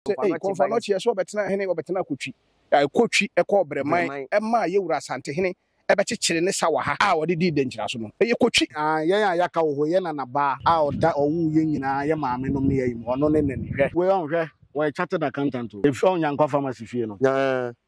sɛ ei kɔmfa no ɔkyeɛ sɛ ɔbɛtena hene ɔbɛtena kotwi kotwi ɛkɔ ɔbrɛman ɛmaa yɛwura asantehene ɛbɛkyekyere ne sa wɔ ha a ɔde dii dɛnkyira so no ɛyɛ kotwi aa yɛn a yɛaka wɔ hɔ yɛ nana baa a ɔda ɔwoo yɛn nyinaa yɛ maame nom ne yɛyi mu ɔno ne nani hwɛ wei ɔn hwɛ wɔyɛ chartered accountant o ɛfiri ɔn nyankwa pharmacy fie no. Nyaa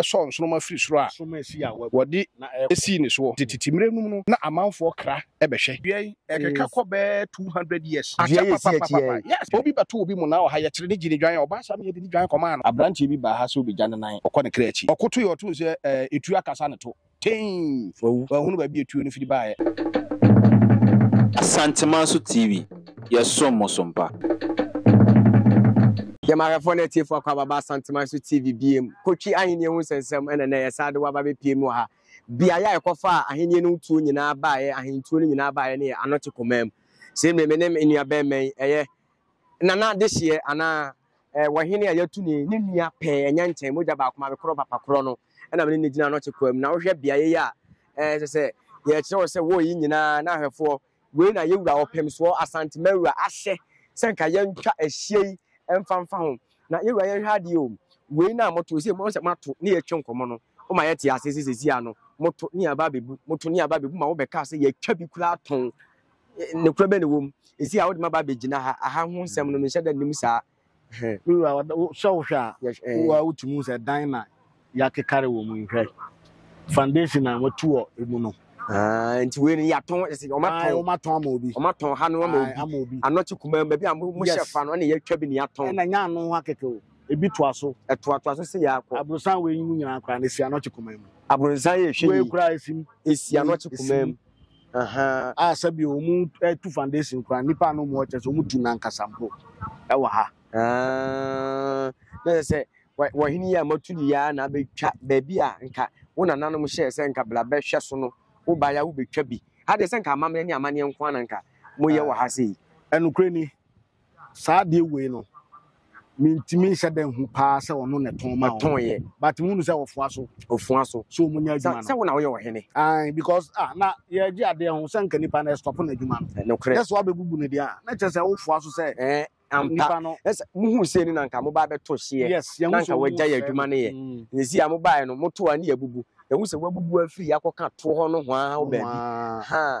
sɔɔ nsoromma firi soro a wɔde sii ne soɔ. Tete mmerɛ nom no na amanfoɔ kra bɛhwɛ. Dua yi ɛkeka kɔ bɛɛ 200 years. Dua yi ɛsi akyi ɛ. Yes obi bɛto obi mu na ɔha yɛ kyere ne gye ne dwan a ɔbaa saa meyɛ de ne dwan kɔmaa no. Abranteɛ bi baa ha sɛ ɔbɛgya ne nan ɔkɔ ne kra akyi ɔkotoeɛ ɔtoo sɛ ɛɛ ɛtuo akasa ne to. Tein! Wawu! Wanhunu baabi a tuo no firi baeɛ. Asanteman so TV, yɛsom mo so mpa. Yɛn mahwɛfoɔ ne atiefoɔ akɔ ababa Asanteman so TV biom. Kotwi ahennie ho nsɛnsɛm ɛna nnɛ yɛsan de wo aba bɛpiem wɔ ha. Beaeɛ a ɛkɔfaa ahennie no ho tuo nyinaa baeɛ, ahentuo no nyinaa baeɛ ne yɛ Anɔkye Komam. Sei mmerɛ me ne me nua bɛɛma yi ɛyɛ Nana Dehyeɛ anaa. Eh, wɔ hene a yɛatu ne, ne nua pɛɛ, ɛnyɛ nkyɛn, mogya baako ma me korɔ papa korɔ no, ɛna mene ne gyina no kye koam. Na wohwɛ beaeɛ yi a, eh, ɛsɛ sɛ yɛkyerɛ wo sɛ wɔ yi nyinaa na ahwɛfoɔ, wei na yɛ wura ɔpemsoɔ Asante Mawura ahyɛ sɛ nka yɛntwa ahyia yi mfa mfa ho. Na yɛ wura yɛnhwɛ adeɛ o, wei na moto, ɛsɛ mo sɛ moato ne yɛtwe nkɔmmɔ no, woma yɛte ase sɛ sɛsi a no, moto ne aba abɛbu, moto ne aba abɛbu ma wobɛkaa sɛ yɛatwa bi koraa tɔn. nokorɛ bɛn na ɛwɔ mu? Ɛsi a wode maba abɛgyina ha, aha ho nsɛm no menhyɛ da nnim saa. Me wura, sɛ wohwɛ a, wo ara wotumi hu sɛ dan na yɛakekare wɔ mu yi, hwɛ, foundation a wɔatu wɔ mu no. Ah, nti wei no yɛatɔn, wɔatɔn ama obi, wɔatɔn ha no ama obi, anɔkye kumaa mu, baabi a mohyɛ fa no, ɛna yɛatwa bi na yɛatɔn. Ɛna nya ano ho akɛkɛ o, ebi toa so. Ɛtoatoa so sɛ yɛakɔ. Aborosan wei yi mu nyinaa koraa no si anɔkye kumaa mu. Aborosan yɛ ɛhwɛ yi. Wei koraa ɛsi mu. Ɛsi anɔkye kumaa mu. Ahaa. A sɛ bi ɔmo tu foundation kura nipa a na ɔmo ɔkyɛ sɛ ɔmo tu n'ankasa mpo ɛwɔ ha. Aa na sɛ sɛ wɔhene yi a matu ne yia na abɛtwa baabi a nka wo nananom hyɛɛ sɛ nka bla bɛhwɛ so no wo ba ya wobɛtwa bi ha deɛ sɛ nka amammerɛ ne amanneɛ nko ana nka moyɛ wɔ ha sei. Ɛnokorɛ ni saa adeɛ wei no mentumi nhyɛ da nhu paa sɛ ɔno na ɛtɔn ma ɔtɔn yɛ but mu nu sɛ ɔfoa so ɔfoa so so ɔmo nya adwuma no sɛ wɔn na wɔyɛ ɔhene ayi because ah na yɛgye adeɛ ho sɛ nka nipa na ɛstɔpo na adwuma no nokorɛ yɛ so abɛbubu ne deɛ a na kyerɛ sɛ wofoa so sɛ ɛɛ ampa no ɛsɛ muhu sɛ ni na nka mo ba bɛtɔ hyeɛ yes yɛn ho sɛ ɔmo gya yɛ adwuma no yɛ yɛsi a mo ba yɛ no mo to a ne yɛ bubu ɛhu sɛ wabubu afiri akɔka toɔ hɔ no ho ara baabi ha.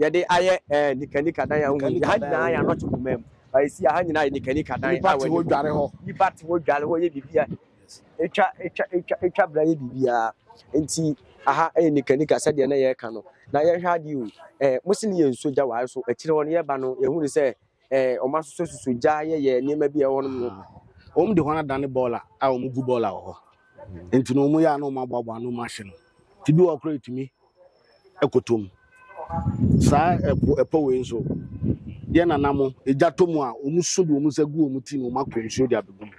yɛde ayɛ ɛɛ eh, nikanika dan a wohu yi ha nyinaa yɛ anɔkye koma mu ɛsi ha nyinaa yɛ nikanika dan nipa te hɔ dware hɔ nipa te hɔ dware hɔ yɛ biribi a etwa etwa etwa etwa bra yɛ biribi a nti aha ɛyɛ nikanika sɛdeɛ na yɛreka no na yɛhwɛ adeɛ o ɛɛ eh, mo si ne yɛ nsuo gya wɔayɛ so akyire hɔ no yɛba no yɛhu ne sɛ eh, wɔn asosɔsusɔ gya yɛyɛ nneɛma bi a ɛwɔ hɔnom no. Wɔn de hɔn adane bɔɔla a wɔn gu bɔɔla wɔ hɔ. Nti no wɔn yɛ a na wɔn aboaboa ano wɔn ahye no. Ti bi wɔ koro etumi ɛkɔtɔ mu. Saa ɛpo ɛpɔ wei nso yɛ nana mo egya tɔ mu a wɔn so de wɔn nsa gu wɔn ti na wɔn akɔ nsuo de abɛgu mu.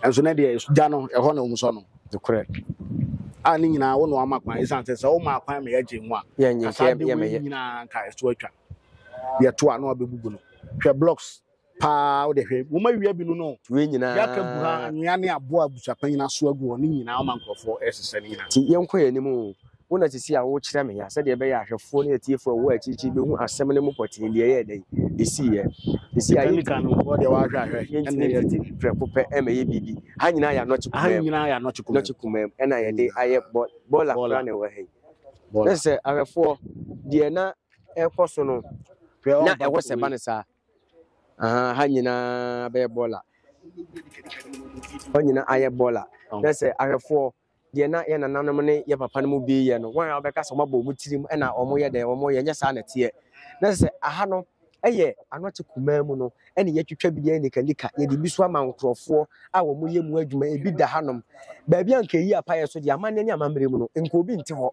Ɛnso ne deɛ gya no ɛhɔ na wɔn sɔ no. Nokorɛ. A ne nyinaa wo na wama kwan esiane sɛ sɛ woma kwan ma yɛgye nwa. Yɛnyɛ nka yɛ mɛyɛ. Kasa de wei nyinaa nka ɛso atwa. deɛ to a na wabɛbubu no hwɛ blocks paa wode hwɛ wɔn awia bi no no wei nyinaa yɛaka gu ha anwea ne aboa abusuapanyin aso agu hɔ ne nyinaa ama nkurɔfoɔ ɛresesɛ ne nyinaa nti yɛnkɔ yɛn anim o wo na sisi a wokyerɛ me ya sɛdeɛ ɛbɛyɛ ahwɛfoɔ ne atiefoɔ ɛwɔ akyirikyiri bɛhu asɛm no mu pɔtee deɛ ɛyɛ dɛn ɛsiiɛ ɛsi a yɛntumi mfiti prɛko pɛ ɛma yɛ biribi ha nyinaa yɛ anɔkye kumam kumam ɛna yɛde ayɛ bɔla kora na ɛwɔ ha yi na sɛ ahwɛfoɔ deɛ na ɛrekɔ so no na ɛwɔ sɛ ɛba no saa aha ha nyinaa bɛyɛ bɔɔla hɔ nyinaa ayɛ bɔɔla na sɛ ahwɛfoɔ deɛ na yɛ nananom ne yɛ papa no mu bi yɛ no wɔn a wɔbɛka sɛ wɔabɔ wɔn tirim na wɔyɛ dɛ wɔyɛ nyɛ saa na teɛ na sɛ aha no ɛyɛ ano te kumaa mu no ɛne yɛtwitwa bi deɛ nikanika yɛde bi so ama nkurɔfoɔ a wɔyɛ mu adwuma ebi da hanom baabi a nka eyi apayɛ so deɛ amanneɛ ne amammerɛ mu no nka obi nte hɔ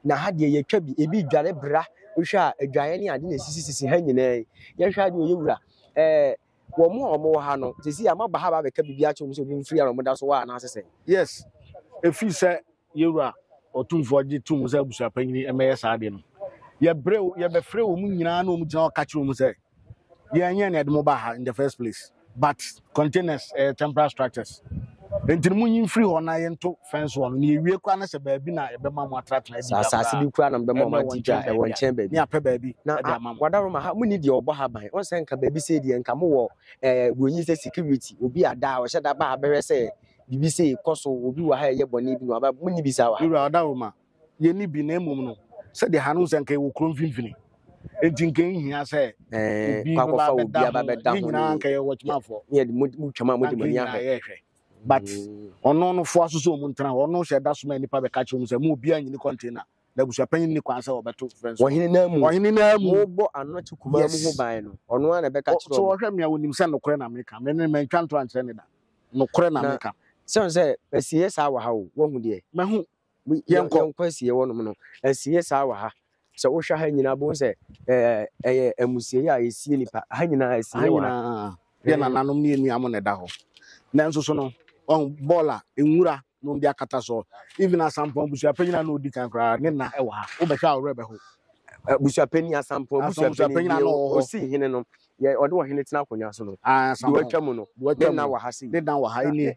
na ha deɛ yɛtwa bi ebi dwane bra wohwɛ a adwaeɛ ne ade na ɛsisisisi ha nyinaa yi yɛhwɛ adeɛ ɔyɛ wura ɛɛ wɔn mu a wɔn wɔ ha no sisi a maba ha ba abɛka biribi akyɛ wɔn sɛ obi mfiri a wɔn da so wɔ anaasɛ sɛ. yes efi sɛ yɛwura ɔtumfoɔ gye tum sɛ abusuapanyini ɛmɛyɛ saa adeɛ no yɛbrɛ yɛbɛfrɛ wɔn nyinaa na wɔn gyina hɔ ka kyerɛ wɔn sɛ. yɛn yɛn na ɛde mo ba ha in the first place but containers ɛyɛ temporary structures nti mo nyi mfiri hɔ na yɛnto fence wɔ no na yɛwie kora no sɛ baabi na ɛbɛma mo atenatena adi dwa asase bi kora na mbɛma ɔma adi dwa ɛwɔ nkyɛn baabi ne apɛ baabi na ɛde ama mo wadaro ma ha mo ni deɛ ɔbɔ ha ban wɔn sɛ nka baabi sɛ deɛ nka mo wɔ ɛɛ wɔnyi sɛ security obi ada a ɔhyɛ da ba ha bɛhwɛ sɛ biribi sɛ kɔ so obi wɔ ha ɛyɛ bɔne bi na waba mo ni bi saa wɔ ha. Wura ɔdaro ma yɛnni bi na mmom no sɛdeɛ ha no sɛ nka yɛwɔ kuro mfimfini nti nka nhia sɛ obi bɛba bɛda ho ne nyinaa nka yɛ wɔtwemafoɔ na nka nyinaa yɛhwɛ but ɔno no foa so sɛ ɔmu ntena hɔ ɔno hyɛ da so ma nnipa bɛka kyerɛ mu sɛ mu obiara nyini kɔntena na abusuapanyin ni kwan sɛ wɔbɛto fɛn so ɔhene naa mu ɔhene naa mu wɔbɔ ano te kumaa mu ho ban no ɔno ara na ɛbɛka kyerɛ so wɔhwɛ mmea wɔnim sɛ nokorɛ na meka me ne mantwa nto ankyerɛ ne da nokorɛ na meka sɛ sɛ ɛsiyɛ saa wɔ ha o wɔhu deɛ mahu yɛnkɔ yɛnkɔ asie wɔnom no asie saa wɔ ha sɛ wohwɛ ha nyinaa bohu sɛ ɛɛ, ɛyɛ amusieeɛ a ɛsie nipa ha nyinaa ha asie wɔ ha nyinaa yɛ Ɛɛ, nananom ne yɛnua mo na ɛda hɔ nanso so no ɔho bɔɔl a nwura na ɔmde akata soɔ even asampɔn abusuapɛnyini a na ɔdi kan koraa ne na ɛwɔ ha wobɛhwɛ a ɔwerɛ bɛho abusuapani asampɔn asampɔn abusuapani abusuapɛnyini a deɛ na ɔ- ɔwɔ hɔ ɔsi hene no yɛ ɔde ɔhene tena akonnwa so no Ah, deɛ asampɔn watwa mu no deɛ watwa ne mu na no wɔ ha sei ne dan wɔ ha na ɛnie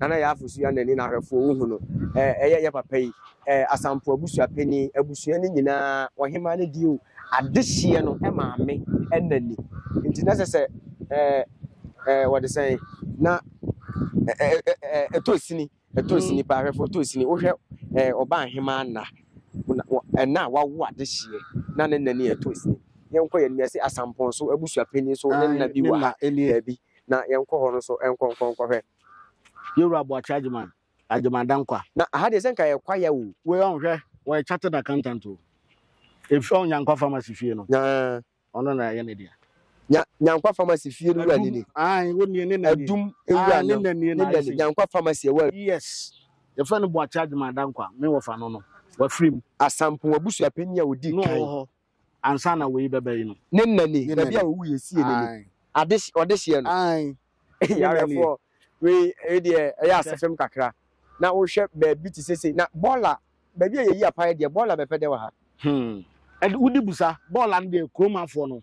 Na na yɛn afosua nani na ahwɛfoɔ wohu no, ɛyɛ yɛn papa yi, Asampɔɔ abusua panin, abusua no nyinaa, ɔhemaa no deɛ o, adehyeɛ no maame nani. Nti na ɛsɛ sɛ wɔde sɛn, na ɛtɔ sini, ɛtɔ sini paa, ahwɛfoɔ ɛtɔ sini. Wohwɛ ɔbaahemaa nna, ɛna a wawo adehyeɛ, na ne nani ɛtɔ sini. Yɛnkɔ yɛn anim, yɛse Asampɔɔ nso abusua panin nso ne nna bi wɔ ha, daabi. Na yɛnkɔ hɔ no nso nkɔ nkɔ nkɔhwɛ. Yewura Boakye Agyeman, Agyeman Dankwa. Na aha deɛ sɛ nka yɛ kwaya o. Wei ɔn hwɛ, ɔyɛ chartered accountant o. Efi ɔn Nyankwa Pharmacy fie no. Nyaa. Ɔno na yɛ ne deɛ. Nya, Nyankwa Pharmacy fie no wura ni ni. Adum, ae, wo nie, ne na nie. Adum ewura no. Ae, ne na nie na ayɛ sei. Nyankwa Pharmacy ɛwɔ. Yes. Yɛfrɛ no Boakye Agyeman Dankwa, me wɔfa no no, wafiri mu. Asampong Abusuapanin a ɔdi kan. Na ɔwɔ hɔ. ansa na wei bɛba yi no. Ne nna nie, ne baabi a ɔwuiɛ no, sie no nie, ade ɔdehyeɛ no. Nnɛfoɔ wei wei deɛ ɛyɛ asefem kakra, na wohwɛ baabi te sɛ sei, na bɔɔla baabi a yɛyi apaeɛ deɛ bɔɔla bɛpɛ dɛ wɔ ha. Hmm. Ɛde wodi busa bɔɔla no deɛ kuromafoɔ no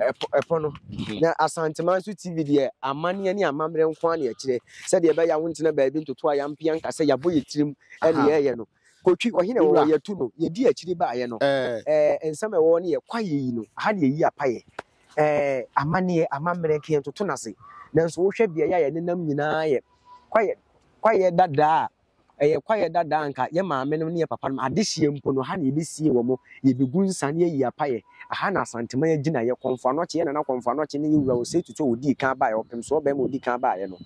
ɛpo, ɛpo no. Mhm. Na Asanteman nso TV deɛ amanneɛ ne amammerɛ nko ara na ɛkyerɛ sɛdeɛ ɛbɛyɛ a wontena baabi ntoto a yɛampia nka sɛ yɛabɔ yɛ tirim ne yɛyɛ no. Kotwi ɔhene wɔ hɔ yɛtu no yɛdi akyiri baeɛ no ɛɛ nsɛm ɛwɔ ne yɛ kwaeɛ yi no aha ne yɛyi apayɛ ɛɛ amanneɛ amammerɛ nka yɛntoto no ase nanso wohwɛ beaeɛ a yɛnenam nyinaa yɛ kwaeɛ kwaeɛ dadaa a Ɛyɛ kwaeɛ dada a anka yɛ maame nom ne yɛ papa nom adehyeɛ mpo no ha na yɛbɛsie wɔn, yɛbɛgu nsa na yɛayi apaeɛ. Aha na Asanteman agyinaeɛ, Kɔmfo Anɔkye, yɛ Nana Kɔmfo Anɔkye ne yɛ Wura Osei Tutu a ɔdii kan baeɛ, Ɔpemsoɔ barima a ɔdii kan baeɛ no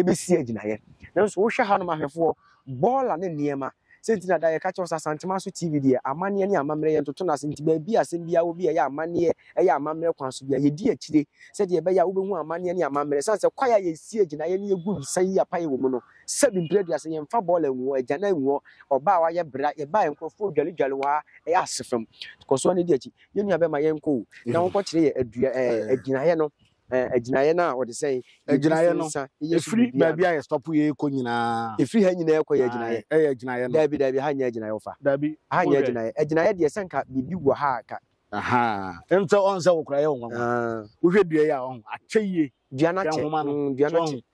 bɛsie agyinaeɛ. Nanso wohwɛ hanom ahwɛfoɔ, bɔɔla ne nneɛma, sɛ nti na da yɛka kyerɛ wo sɛ Asanteman so TV deɛ amanneɛ ne amammerɛ yɛntoto no ase nti baabi a asɛm biara wɔ bi a ɛyɛ amanneɛ, ɛyɛ amammerɛ kwan so biara yɛdi akyire sɛdeɛ ɛbɛyɛ a wobɛhu amanneɛ ne amammerɛ. Ɛsiane sɛ kwaeɛ a yɛsie agyinaeɛ ne yɛgu nsa yi apaeɛ wɔ mu no, Sɛbi mprɛ aduasa yɛmfa bɔɔla ngu hɔ, agyana ngu hɔ, ɔbaa a wayɛ bra, yɛbaeɛ nkorɔfoɔ redwaledwale wɔ ha, ɛyɛ asefam nti kɔ so ara na di akyi. Yɛn nua bɛrima yɛnkɔ o, na wo nkɔkyerɛ yɛ adua ɛɛ agyinaeɛ no ɛɛ agyinaeɛ no a wɔde sɛn Agyinaeɛ no, nsa yɛ so ɛfiri biribiara baabi no. a yɛ stop yɛ rekɔ nyinaa. Ɛfiri ha nyinaa ɛkɔ yɛ Ae, agyinaeɛ. ɛyɛ agyinaeɛ no. Daabi daabi ha nyɛ agyinaeɛ wo fa. Daabi, Ha nyɛ wohwɛ. agyinaeɛ. Agyinaeɛ deɛ sɛ nka biribi wɔ ha a ka. Ahaa, nso ɔhu sɛ wo koraa yɛ wo nwanwa. Aah. Wohwɛ dua yi a ɔhu, akyɛ yie. Dua no Hwɛ akyɛ, nhoma no, mm dua so no akyɛ. ɔhu.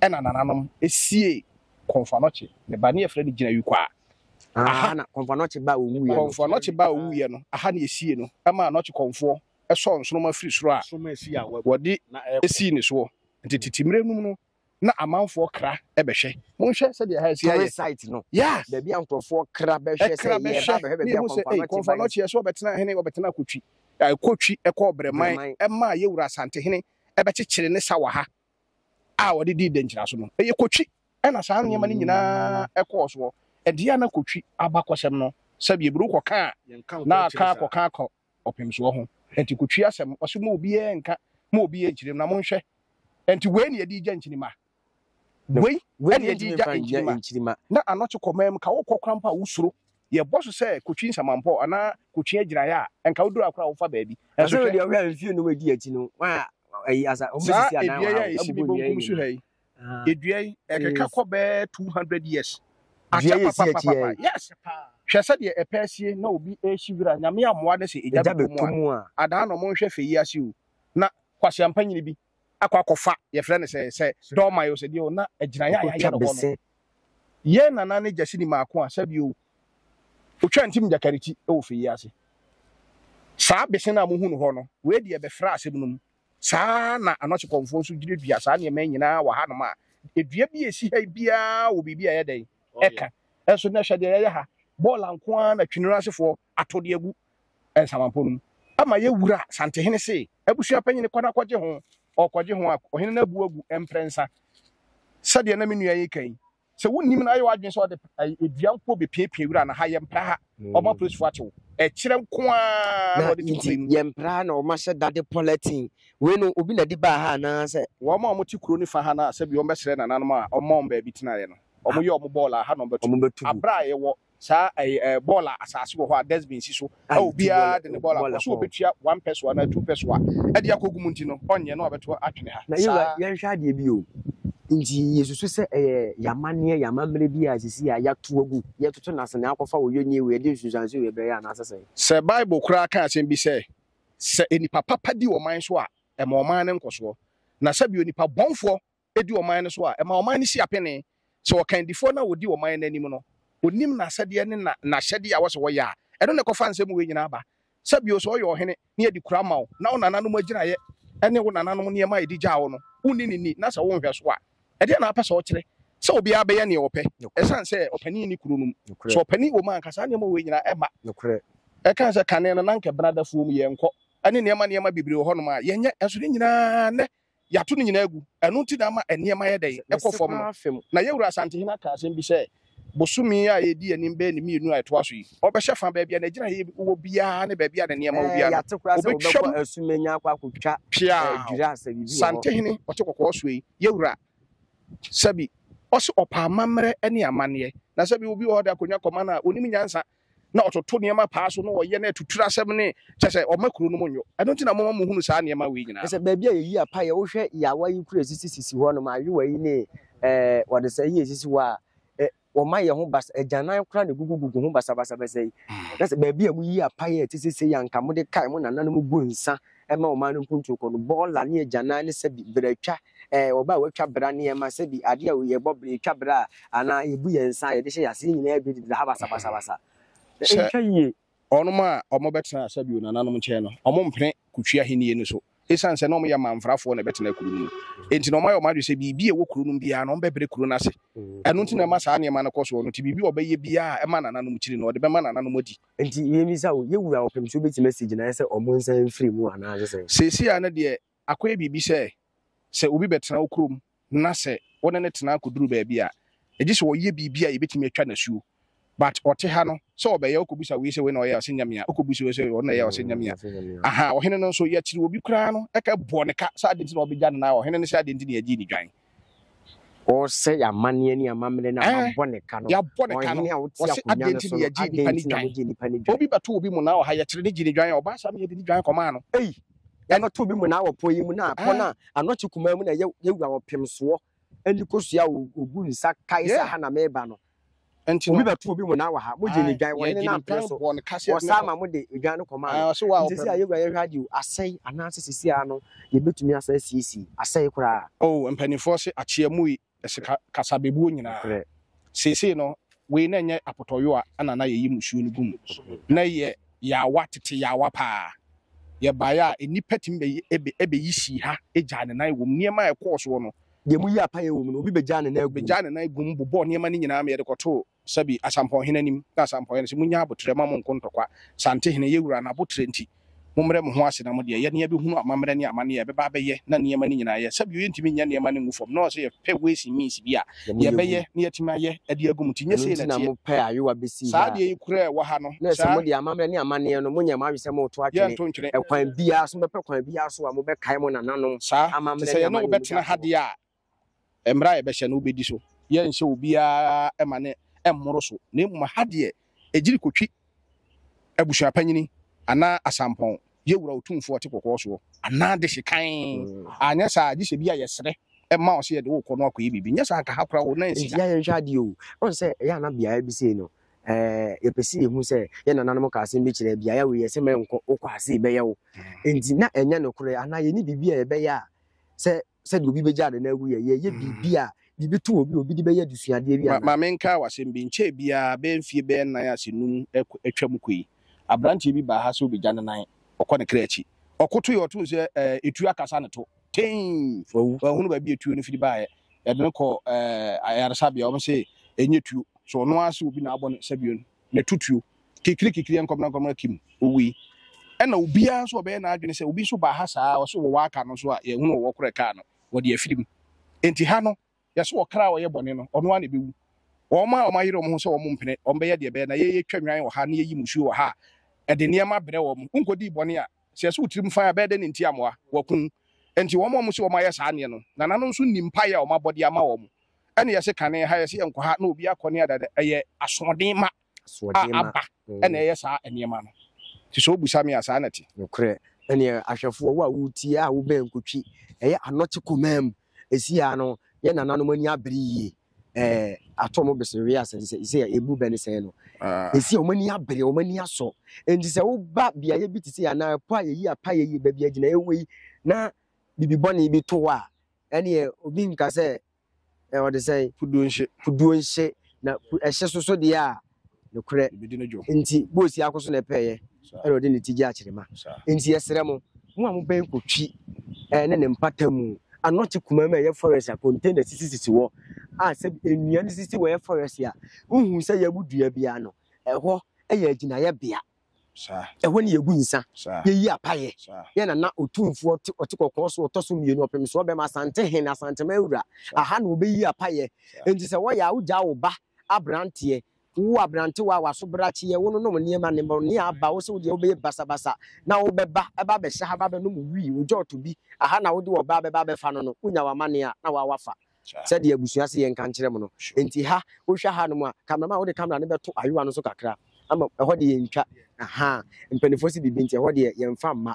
Ɛna nananom sie Komfo Anokye ne ba ne yɛfrɛ no Gyinawi Kwaa. Aha na Komfo Anokye ba a ɔwuiɛ no. Komfo Anokye ba a ɔwuiɛ no, aha na yɛsiee no maa Anokye Komfoɔ sɔɔ nsoromma firi soro a wɔde sii ne soɔ. Nti tete mmerɛ nom no na amanfoɔ kra bɛhwɛ. Monhwɛ sɛdeɛ aha asi ayɛ. Tourist site no. Yeah. Baabi a nkurɔfoɔ kra bɛhwɛ sɛ yɛba bɛhwɛ baabi a Komfo Anokye Komfo Anokye yɛ sɛ ɔbɛtenaa hene ɔbɛtenaa Kotwi. Kotwi kɔɔ Breman maa yɛwura Asantehene ɛbɛkyekyere ne sawaha a ɔde dii dɛnkyira so no. Ɛyɛ Kotwi na saa nneɛma no nyinaa kɔɔ soɔ. Ɛdeɛ a na Kotwi abakɔsɛm no, sɛdeɛ Bro kɔka a, na aka akɔka akɔ ɔpemsoɔ ho. Ɛnti Kotwi asɛm, ɔse mo obiara nka, mo obiara nkyerem na monhwɛ. Ɛnti wei ne yɛde gya nkyini ma. Wei ɛne ɛde gya nkyirima na anɔkye kɔ mɛm ka wokɔ kramp a wosuro yɛbɔ so sɛ kotwi nsamanpɔ anaa kotwi agyiraeɛ a ɛnka woduru akora a wofa baabi nanso hwɛ saa edua yi a ɛsi me bonkum so ha yi edua yi ɛkeka kɔ bɛɛ 200 years akyɛ papapapapa yes hwɛ sɛdeɛ ɛpɛ asie na obi ɛrehyi wira nyame ammoa ne sɛ egya bɛtɔ mu a adaa na ɔmo nhwɛ fɛ yi ase o na kwaseampa nyini bi akɔ akɔfa yɛfrɛ no sɛ sɛ dɔɔman o sɛ deɛ o na agyinaeɛ a yɛayɛ no hɔ no yɛn nana ne gyasi ne maako a sɛbi o otwa ntim gyakariti wɔ fɛ yi ase saa bese no a mohu no hɔ no wei deɛ bɛfra asɛm no mu saa na anɔkye kɔmfoɔ nso duadua saa nneɛma nyinaa wɔ hanom a edua bi a ɛsi ha biara wɔ biribi a ɛyɛ dɛn ɛka ɛnso na ɛhwɛ deɛ yɛyɛ ha bɔɔla nko ara na twene no asefoɔ ato de agu nsamanpɔ no mu ama yɛ wura santehene se abusua panyini kɔ na kɔgye ho ɔkɔgye ho a ɔhene no abu agu mprɛnsa sɛdeɛ na me nua yi ka yi sɛ wonnim no ayɛ w'adwene sɛ ɔde adua nko bɛpiapia wura na ha yɛmpra ha ɔma polisifo atew ɛkyerɛ nko a na ɔde te kuro mu yɛmpra ha na ɔma sɛ dade pɔlɛtin wei no obi na de baa ha anaasɛ wɔn a wɔte kuro no fa ha no a sɛbi wɔbɛsrɛ nananom a ɔma wɔn baabi tenaeɛ no wɔyɛ wɔn bɔɔl a ha na wɔbɛto abere a yɛwɔ saa ɛyɛ eh, ɛɛ bɔɔl a asaase wɔ hɔ a dustbin si so a obiara de ne bɔɔl akɔ so obetua one peso anaa two peso a ɛde akɔgu mu nti no ɔnyɛ na ɔbɛto atwene ha na yɛwura yɛnhwɛ adeɛ bi o nti yɛsusu sɛ ɛyɛ yɛamanneɛ yɛamammerɛ bi a sisi a yɛato agu yɛtoto no ase na akɔfa wɔ yɛnyɛ wei yɛde nsunsuanso wei bɛyɛ anaasɛ sɛ sɛ bible koraa ka asɛm bi sɛ sɛ nnipa papa di ɔman so a ɛma ɔman no nkɔsoɔ na sɛbi onipa bɔnfoɔ di ɔman no so a, ɛma ɔman no si apene. Sɛ ɔkandifoɔ no a ɔdi ɔman no anim no, ɔnim n'asɛdeɛ ne na, n'ahyɛdeɛ a ɛwɔ sɛ wɔyɛ a, ɛno na ɛkɔfa nsɛm wei nyinaa ba. Sɛ bio, sɛ ɔyɛ ɔhene na yɛde kuro ama wo, na wo nananom agyiraeɛ ne wo nananom nneɛma a yɛde gyaa wo no, wonni no ni, na sɛ wonhwɛ so a, ɛdeɛn na wapɛ sɛ ɔkyerɛ? Sɛ obiara bɛyɛ deɛ ɔpɛ, Nokorɛ. ɛsiane sɛ ɔpanin nni kuro no mu. Nokorɛ. Sɛ ɔpanin wɔ mu a, anka saa nneɛma wei nyinaa ɛmma. Nokorɛ. Ɛkae sɛ, Kane no, na anka ɛbenadafoɔ mu yɛnkɔ, ne nneɛma nneɛma bebree wɔ hɔnom a yɛnyɛ, nanso ne nyinaa nnɛ Yɛato ne nyinaa agu. Ɛno nti na ama nneɛma yɛ dɛn? Ɛkɔ fam no. Na yɛn Wura Asantehene aka asɛm bi sɛ, bosome a ɛdi anim bɛyɛ ne mmienu a ɛtoa so yi, ɔbɛhyɛ fa baabi a n'agyiraeɛ wɔ biara ne baabi a ne nneɛma wɔ biara no, ɔbɛtwam peaw. Santehene ɔte kɔkɔɔ soɔ yi, yɛn Wura, sɛbi, ɔse ɔpɛ amammerɛ ne amanneɛ. Na sɛbi obi wɔ hɔ de akonnwa kɔma no a, ɔnim nyansa. na ɔtoto nneɛma paa so na ɔyɛ na atuturu asɛm ne kyɛ sɛ ɔma kuro no mu nyo. Ɛno nti na moma mohunu saa nneɛma wei nyinaa no. Sɛ baabi a yɛyi apaeɛ, wohwɛ yɛn awayi kuro a ɛsisi sisi hɔ nom, ayowa yi ne ɛɛ wɔde sɛ yi a ɛsisi hɔ a, ɛ, wɔma yɛn ho basa, agyanan koraa na ɛgugugugu ho basabasabasa yi. Na sɛ baabi a moyi apaeɛ a ɛte sɛ sei a anka mode kae mo nananom gu nsa ɛma ɔman no mpuntuo kɔ no, bɔɔla ne agyanan ne sɛbi beratwa, ɛɛ ɔbaa a watwa bera nneɛma, sɛbi adeɛ a yɛbɔ bere, yɛtwa bere a, anaa yɛbu yɛn nsa a yɛde hyɛ yɛn ase, ne nyinaa yɛ dwodidra ha basabasabasa. Sɛ Ɛntwa yie. wɔnom a wɔbɛtena sɛbi onananom nkyɛn no, wɔmpene Kutwi ahennie no so. Ɛsiane sɛ na wɔyɛ amanfrafoɔ na ɛbɛtena kuro no mu nti, na wɔayɛ wɔn adwene sɛ biribi a ɛwɔ kuro no mu biara no, wɔbɛbrɛ kuro no ase. Ɛno nti na ɛma saa nneɛma no kɔ soɔ no, nti biribi a ɔbɛyɛ biara a ɛma nananom kyiri no, ɔde bɛma nananom adi. Nti yɛmmisa wo, yɛ wura ɔpem sɛ wobɛtumi asi gyinaeɛ sɛ ɔmo nsan mfiri mu anaase sɛn? Seesei ara no deɛ akɔyɛ biribi sɛ, sɛ obi bɛtena wo kurom na sɛ wo ne no tena akɔduru baabi a, ɛgye sɛ ɔyɛ biribi a yɛbɛtumi atwa no asuo. But ɔte ha no, sɛ ɔbɛyɛ, wokɔbisa wei sɛ wei na ɔyɛ a, ɔse nyɛ me a, wokɔbisa wei sɛ ɔno na ɛyɛ a, ɔse nyɛ me a. Ahaa, ɔhene no nso, yɛkyere obi koraa no, ɛka bɔ ne ka sɛ adɛn nti na wɔbɛgya no na ɔhene no sɛ adɛn nti na yɛgyee ne dwan. Ɔresɛe amanneɛ ne amammerɛ no a Ɛɛ, wɔabɔ ne ka no. yɛabɔ ne ka no. Ɔhene a wote Wɔse, akonnwa adɛn no nti so na no, yɛgye adɛn nnipa no nti na dwan? mogye nnipa no dwan? Obi bɛto obi mmonnaa wɔ ha, yɛkyere no gyee ne dwan a, ɔbaa saa na yɛde ne dwan kɔmaa no. Ei, yɛbɛto obi mmonnaa wɔ pɔ yi mu, na pɔ no a Ɛɛ. ano kye kumaa mu na yɛ, yɛwura ɔpemsoɔ ani kosua a o- ogu nsa kae sɛ Yeah. ha na meba no. Enti obi bɛto obi mu na awaha, mogye ne dwan, wɔne no ampene so, wɔsaa ma mode odwan no kɔmaa no. Nti sɛ a yɛwura yɛhwɛ ade o, asɛe anaasɛ sisi ara no yɛbɛtumi asa asiesie, asɛe koraa. Oh, mpanimfoɔ se akyea mui se kasa bɛbuo nyinaa. Seesei no, wei na nyɛ apotɔyowa na na yɛyi musuo no gu mu. Na ɛyɛ yaawa, tete yaawa paa. Yɛbaeɛ a, nnipa tumi bɛyi sii ha gyaa ne nan wɔ mu. Nneɛma a ɛkɔɔ soɔ no, Deɛ moyi apaeɛ wɔ mu no, obi bɛgyaa ne nan agu mu. Bɛgyaa ne nan agu mu bobɔɔ nneɛma no nyinaa ma yɛde kɔtoo Sabi, asampɔnhene anim. Na asampɔnhene no se, Monnya aboterɛ mma mo nko ntɔkwa. Santehene, yɛn wura, n'aboterɛ nti, mommrɛ mo ho ase na mo deɛ, yɛne yɛbɛhunu amammerɛ ne amanneɛ a ɛbɛba abɛyɛ na nneɛma no nyinaa yɛ. Sabio, yɛntumi nyɛ nneɛma no ngu fam, na ɔse yɛpɛ ways and means bi a yɛbɛyɛ na yɛatumi ayɛ de agu mu, nti nyɛ sei na ɛteɛ. Saa adeɛ yi koraa a ɛwɔ ha no. Na ɛsɛ saa. mode amammerɛ ne amanneɛ no, monyɛ mo adwene sɛ moreto atwene. Yɛnto ntwene. Ɛkwan biara so, mobɛpɛ kwan biara so a mobɛkae mo nananom Saa nti, amammerɛ sɛ ne yɛne wo amanneɛ mu bɛtena ha daakye hɔ. deɛ a, mmara a yɛbɛhyɛ no, wobɛdi so. Yɛrenhyɛ obiara ma ne mmoro so, na mmom ha deɛ, ɛgyiri kɔtwi abusuapanyini anaa asampɔn, yɛ Wura Otumfoɔ a ɔte kɔkɔɔ soɔ, anaa dehye kann. Anyɛ saa a, gye sɛ bi a yɛsrɛ ma wo sɛ yɛde wo rekɔ no akɔyɛ biribi. Nyɛ saa nka ha koraa o, na ansi Enti ha. yɛnhwɛ adeɛ o. Woahu sɛ ɛyɛ a na beaeɛ bi sei no, ɛɛ yɛpɛ sɛ yɛhu sɛ yɛn nananom ka asɛm bi kyerɛ beaeɛ wei yɛ sɛ mɛnkɔ wokɔ ase bɛyɛ wo nti na ɛnyɛ nokorɛ anaa yɛne biribi a yɛbɛyɛ a sɛ sɛdeɛ obi bɛgya ade no agu yɛ yɛyɛ mm. biribi a biribi to obi obi de bɛyɛ adesuadeɛ bi anaa. maame nka wasɛm bi nkyɛn biara bɛyɛ mfie bɛyɛ nan ase num atwa mu kɔ yi aberanteɛ bi baa ha sɛ obɛgya ne nan ɔkɔ ne kra akyi ɔkoto yɛ ɔto sɛ ɛɛ etu akasa ne to. tee wawu wahunu baabi a tuo no firi baeɛ yɛde no kɔ ayaresabea wɔn sɛ ɛnyɛ tuo so ɔno ara sɛ obi na abɔ no sɛbio no na ɛtu tuo kikiri kikiri nkɔmena nkɔmena kim owui ɛna obiara nso ɔbɛyɛ n'adwene sɛ obi nso baa ha saa ɔso wɔ wɔ aka no nso a yɛhunu wɔ korɛ kaa no wɔde afiri mu enti ha no Hwɛ so ɔkra a ɔyɛ bɔne no, ɔno ara na ebewu. Wɔn a wɔayere wɔn ho sɛ wɔrempene, wɔbɛyɛ deɛ ɛbɛyɛ na yɛretwa nnwan wɔ ha na yɛreyi mmusuo wɔ ha a, ɛde nneɛma brɛ wɔn. Wonkɔdii bɔne a, sɛ ɛsɛ wo tirim fann a, ɛbɛyɛ dɛn na enti amoa? Wɔaku wo. Enti wɔn a wɔse wɔayɛ saa adeɛ no, nananom nso nni mpaeɛ a wɔabɔ de ama wɔn. Ɛnna yɛse, Kane ha, yɛse yɛnkɔ ha, na obiara kɔ ne ade. Ɛyɛ asoɔden ma. a aba na ɛyɛ saa nneɛma no. Nti sɛ wobisa me a, saa na ɛte. Nokorɛ. Ɛnneɛ ahwɛfoɔ, wo a woretie a wobɛn nkotwi, ɛyɛ anɔkye koma mu, ɛsi ha no, yɛn nananom ani abere yie, ɛɛ, ato wɔn besere wee ase sɛ, sɛ ɛbu bɛ ne sɛn no, ɛsi a wɔn ani abere, wɔn ani asɔ. Enti sɛ woba beaeɛ bi te sɛ anaa ɛpo a yɛyi apaeɛ yi, baabi a gyinaeɛ wɔ yi, na biribi bɔne bi to hɔ a, ɛnneɛ obi nka sɛ ɛ, ɔde sɛn? Puduo nhye. Puduo nhye, na pu, ɛhye so so deɛ a, nokorɛ. Ɛbɛdi no dwo. Nti, boosi ako so na ɛpɛɛyɛ, ɛna ɔde ne ti gye akyerema. Nti yɛsrɛ mo, mo a mobɛn kɔ Twi ɛ, ne ne mpata mu, anɔkye kumaa mu a ɛyɛ forest a container sisisisi hɔ, a sɛ nnua no sisi hɔ yɛ forest a, wohu sɛ yɛabu dua bi ano, ɛhɔ yɛ agyinaeɛbea. Ɛhɔ na yegu nsa, yeyi apayɛ. Yɛn na na Otumfoɔ te ɔte kɔkɔɔ so ɔtɔ so mmienu, ɔpem soɔ bɛma, Asantehene, Asanteman wura. Aha na wɔbɛyi apayɛ. Enti sɛ wɔyɛ a, wogyaa wo ba aberanteɛ, wo aberantewa a w'asobrakyeɛ, wononom nneɛma no, mmorɔnee aba wo sɛ wodeɛ wobɛyɛ basabasa na wobɛba ɛba abɛhyɛ ha, aba abɛnom wii, ogya ɔtɔ bi, aha na wode ɔbaa bɛba abɛfa no no, wonya w'amanneɛ a, na woa woafa. sɛdeɛ abusua se yɛnka nkyerɛ mo no. Enti ha, wohwɛ hanom a, camera man wode camera no bɛto ayowa no so kakra ama ɛhɔ deɛ yɛntwa, ahaa, mpaninfoɔ se biribi nti ɛhɔ deɛ yɛnfa mma.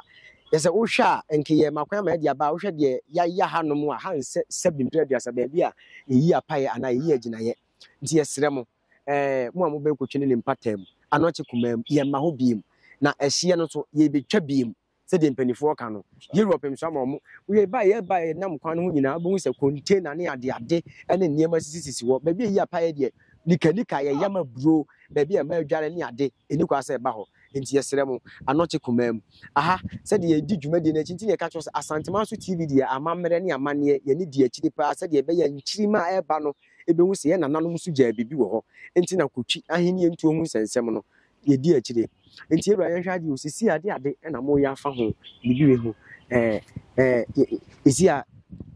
Yɛsɛ wohwɛ a, nka yɛ ma kwan ama yɛde aba a, wohwɛ deɛ yɛayɛ hanom a, ha nsɛ sɛbe mpire aduasa, baabi a yɛyi apaeɛ anaa yɛyi agyinaeɛ. Nti yɛsrɛ mo, eh, mo a mobɛkɔtwe no ne mpataamu, anɔkye kumaa mu, yɛmma hɔ bio. Na ɛhyeɛ no nso, yɛrebɛtwa bio. Sɛdeɛ mpanimfoɔ ka no, Europe nso ama wɔn. Woyɛ baeɛ a ɛbaeɛ a ɛnam kwan no ho nyinaa, wobɛhu sɛ container ne adeade ne nneɛma sisisisi hɔ. Baabi a ɛyi apaeɛ deɛ, nikanika, yɛyam aburo, baabi a mmaa adware ne ade, ɛnni kwan sɛ ɛba hɔ. Enti yɛsrɛ mo, anɔkye koma mu. Aha, sɛdeɛ yɛredi dwumadie no akyi nti na yɛka kyerɛ wo sɛ Asanteman so TV deɛ, amammerɛ ne amanneɛ, yɛne di akyire pa ara sɛdeɛ ɛbɛyɛ a nkyirimma a ɛreba no bɛhu sɛ yɛn nananom nso gyaa biribi wɔ hɔ. Enti na kotwi Ahennie Ntuo ho nsɛnsɛm no yɛdi akyire. Nti yɛwura yɛnhwɛ adeɛ o, sisi ade ade na moyɛ afa ho biribi wei ho. Ɛɛ ɛɛ sisi a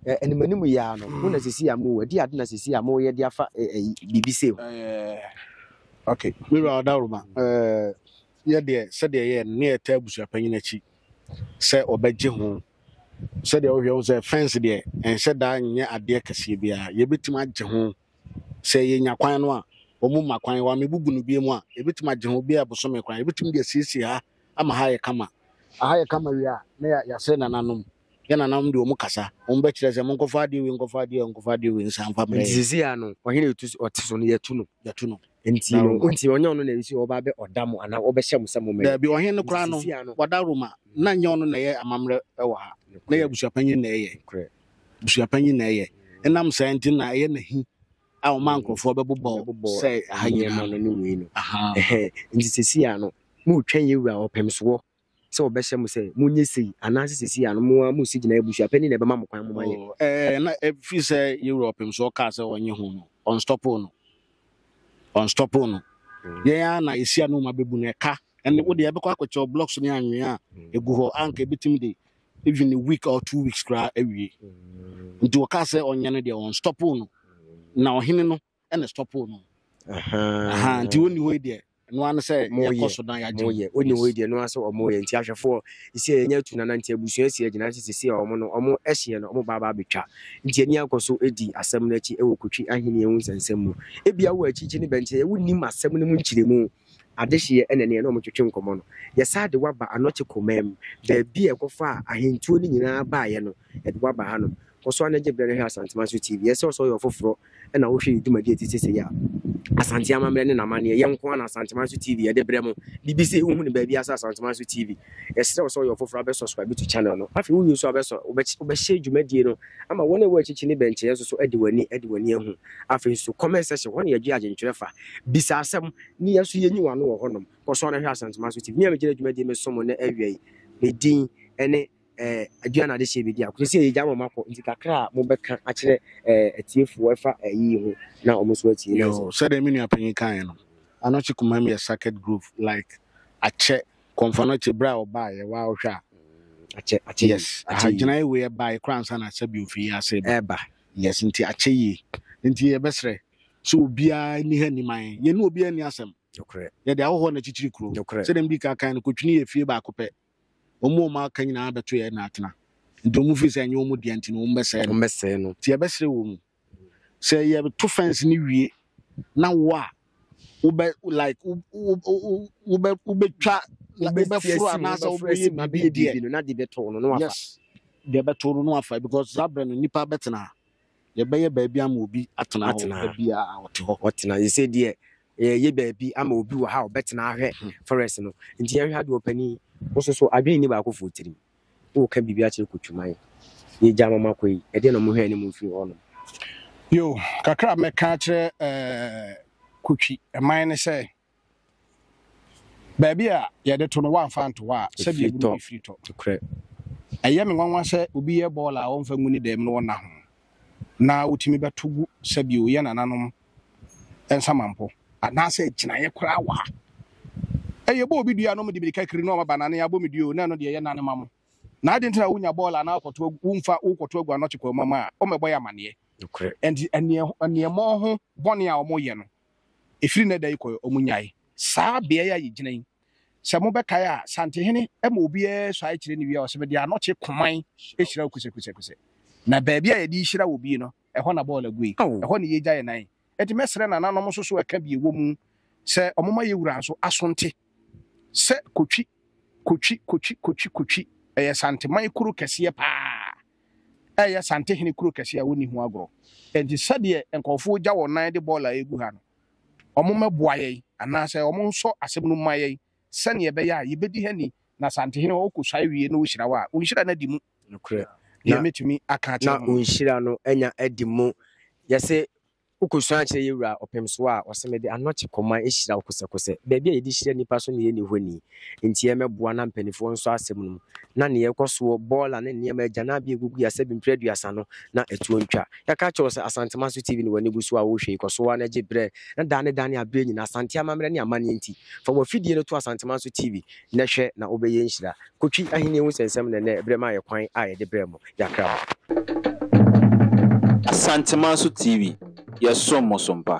ɛɛ animanim yɛ ara no, mo na sisi a mo adi ade na sisi a moyɛ de afa ɛɛ biribi sei ho. Ɛɛ ok, me wura ɔdawuruma ɛɛ yɛ deɛ sɛdeɛ yɛ ne yɛ taa busuapanyin akyi sɛ ɔbɛgye ho sɛdeɛ wohwɛ ho sɛ fɛnse deɛ ɛnhyɛ daa nyɛ adeɛ kɛseɛ biara yɛbɛtumi agye ho Sɛ yenya kwan no a, wɔn mma kwan, wɔamebubu no bio mu a, yebetumi agye ho bi a bosome kwan. Yebetumi de asiesie ha ama ha ayɛ kama. Aha yɛ kama wie a, na yɛ, yɛasrɛ nananom. Yɛn nananom de wɔn kasa. Wɔn bɛkyerɛ sɛ, monkɔfa adeɛ wei, nkɔfa adeɛ wei, nkɔfa adeɛ wei nsan mfa mmrɛ Nti yɛn. seesei a no, ɔhene a ɛtu so, ɔte so no, yɛatu no. Yɛatu no. Nti Da no, Roma. nti ɔnyɛ ɔno na ɛsi ɔba bɛ ɔda mo anaa ɔbɛhyɛ mo sɛ mo mmɛyɛ. Daabi, ɔhene no Nti koraa no, seesei a no, wada Roma. Na nyɛ ɔno na ɛyɛ amammerɛ wɔ ha. Na ɛyɛ nokorɛ, abusuapanyin na ɛyɛ. nokorɛ. busuapanyin na ɛyɛ. Ɛnam saa nti na ɛyɛ n'ahi a ɔma nkurɔfoɔ bɛbobɔ sɛ aha nyinaa no ne wei no. Nti sɛsi a no, moretwɛn yɛn wura ɔpem soɔ sɛ ɔbɛhyɛ mo sɛ monyɛ sei anaasɛ sɛsi a no mo ara moresi gyinaeɛ busuapanyin na ɛbɛma mo kwan mo ma yɛ. Oh, eh, na ɛfiri sɛ yɛn wura ɔpem soɔ kaa sɛ ɔnye ho no, ɔnstɔpo no, ɔnstɔpo no. Mm. Yɛn ara na yɛsi ano ma bɛbu no ɛka ɛne mm. wo deɛ ɛbɛkɔ akɔkyɛw blocks ne anwea a ɛgu mm. hɔ anka ɛbɛtumi de even a week or two weeks koraa awie nti wɔkaa sɛ ɔnyɛ no deɛ wɔnstɔpo no na ɔhene no ɛna stɔpo no Aha, nti wɔnni hɔ yi deɛ ɛno ano sɛ yɛkɔ so na yɛagye moyɛ ɔnni hɔ yi deɛ ɛno asɛ ɔmoyɛ nti ahwɛfoɔ ɛsɛ yɛnya atu nana nti abusua si agyina nti sɛsɛ ɔmo no ɔmo ɛhyeɛ no ɔmo baabaa bɛtwa nti ani akɔ so ɛdi asɛm no akyi ɛwɔ kotwi ahenni ɛho nsɛnsɛm mu ebia wɔ akyikyi ne bɛnkyɛ yɛwo nim asɛm no mu nkyerɛmu Adehyeɛ ɛna ɛneɛ na wɔtwetwe nkɔmmɔ no. Yɛsan de wo aba Anɔkye Komam, baabi a ɛkɔfaa ahentuo no nyinaa baeɛ no, yɛde wo aba hanom. Kɔ so ara na gye berɛ na hwɛ Asanteman so TV. Yɛsrɛ wo sɛ woyɛ ɔfoforɔ na wohwɛ yɛn dwumadie a ɛte sɛ sei a, Asante amammerɛ ne n'amanneɛ, yɛn nko ara na Asanteman so TV yɛde brɛ mo. Biribi sei wohu no baabiara sɛ Asanteman so TV. Yɛsrɛ wo sɛ woyɛ ɔfoforɔ a, bɛ subscribe to channel no. Afei wowie nso a, wobɛhyɛ dwumadie no Ama wɔn a ɛwɔ akyikyi ne bɛnkyɛeɛ nso so adi w'ani, adi w'ani ahu. Afei nso, comment section hɔ na yɛdwe adwentwerɛ fa. Bisa asɛm, na yɛn nso yɛnyi w'ano wɔ hɔnom. Kɔ so ara hwɛ Asantuma So TV. Me a megyina dwumadie meso mo nnɛ awia yi, me din ne eh, Aduane Adehyeɛ Bedi Ako. Sɛsɛ yɛgya mo makɔ, nti kakra a mobɛka akyerɛ eh, atiefoɔ ɛfa eh, yiyi ho na wɔn nso atie. Yo, sɛdeɛ me nua panyin kaeɛ no, Anokye Kumam yɛ Circuit Group like akyɛ. Kɔmfɔ no akyi berɛ a ɔbaeɛ waa wohwɛ a. Akyɛ akyɛ yie. Yes. Aha Akyɛ yie. gyinaeɛ wei ɛbaeɛ koraa ansa na sɛbi ofiri yi ase ba. Ɛba. Yes nti akyɛ yie. Nti yɛbɛsrɛ sɛ obiara nni ha nni man. Yɛne obiara nni asɛm. Nokorɛ. Yɛde ahɔhoɔ no akyikyiri kuro. Nokorɛ. Sɛdeɛ medi kan kan no kotwini yɛ fie baako pɛ. Wɔn a wɔn aka nyinaa bɛto yɛn na atena. Nti wɔn firi sɛ ɛnyɛ wɔn dea nti no wɔn bɛsɛe no. Wɔn bɛsɛe no. Nti yɛbɛsrɛ wɔn sɛ yɛto fence no wie na wo a wobɛ like wo wo wo wobɛ wobɛtwa like wobɛforo anaasɛ wobɛyɛ biribi deɛ no na de bɛtoo no no afa yes deɛ bɛto no no afa because saa berɛ no nnipa bɛtena ha yɛbɛyɛ baabi ama obi atena hɔ Atena ha. baabi a ɔte hɔ ɔtena yɛ sɛ deɛ yɛyɛ baabi ama obi wɔ ha a ɔbɛtena ahwɛ forest no nti yɛhwɛ adeɛ ɔpani wo soso adwene ni baakofoɔ tirim Woka biribi akyerɛ Kutwuma yi? Yegyaa ma makɔ yi, ɛdeɛn na mohwɛɛ ne mu mfiri hɔnom? Yo, kakra a mɛka akyerɛ Kutwi man ne sɛ, baabi a yɛde to no woamfa anto hɔ a, sɛdeɛ ɛgu no ɛfiri tɔ. Ɛyɛ me nwanwa sɛ obi yɛ bɔɔla a ɔmfa ngu ne dam na ɔnna ho. na wotumi bɛto gu sɛbio yɛ nananom nsamanpo anaasɛ gyinaeɛ koraa wɔ ha ɛyɛ bɔ obi dua no mede mirika kiri na ɔmaba nane abɔ me duo na ɛno deɛ yɛ nane ma mo na ade ntina wonya bɔɔl anaa kɔto womfa wokɔto agu anɔte kwa mu a ɔmɛbɔ yɛ amaneɛ ɛnti ɛneɛmɔ ho bɔne a ɔmoyɛ no Ɛfiri nnɛ da yi kɔ ɛ, wɔnyae saa beaɛ a yɛgyina yi. Sɛ mobɛkae a, Santehene ma obiara suae kyerɛ ne wie a, ɔse, Mede anɔkye koman hyira wo kusɛkusɛkusɛ. Na baabi a yɛde rehyira wɔ bie no, ɛhɔ na bɔɔl agui. Ɛhɔ na yɛregya yɛn nan. Enti mɛsrɛ nananom nso so ɛka bi ɛwɔ mu sɛ wɔmma yɛn wura nso asonte sɛ Kotwi, Kotwi, Kotwi, Kotwi, Kotwi. Ɛyɛ Santeman kuro kɛseɛ pa ara. reyɛ Santehene kuro kɛseɛ a wɔnni ho agorɔ. Enti sɛdeɛ nkurɔfoɔ regya wɔn nan de bɔɔla regu ha no, wɔmmɛboa yɛn anaasɛ wɔnsɔ asɛm no mma yɛn sɛdeɛ ɛbɛyɛ a yɛbɛdi ha ni na Santehene ɔrekɔsua awie na ɔhyira wo a, wo nhyira no adi mu. Nokorɛ. Deɛ mɛtumi aka akyerɛ mo no. Na wo nhyira no anya adi mu. Yɛse Wokosua kyerɛ yɛn wura ɔpem so a ɔse mede anɔkye kɔman hyira wo kosɛkosɛ. Baabi a yɛde hyira nnipa so na yɛnni hɔ ni. Enti yɛmmɛboa na mpaninfoɔ nsɔ asɛm no mu. Na nea ɛkɔ soɔ, bɔɔla ne nneɛma agyananbea a ɛgugu yɛn asɛbi mprɛ aduasa no, na ɛtoɔ ntwa. Yɛaka akyerɛ wo sɛ Asantema so TV na w'ani gu so a wohwɛ yi, kɔ so ara na gye berɛ. Na daa ne daa ne aberɛ nyinaa, Asante amammerɛ ne amanneɛ nti, fa w'afidie no to Asantema so TV Nnɛ hwɛ na wobɛyɛ nhyira. Kotwi Ahenni ho nsɛnsɛm na ɛnnɛ berɛ maa yɛ kwan a yɛde brɛɛ mo. Yɛakra mo. Asantemanso TV, yɛsom mo so mpa.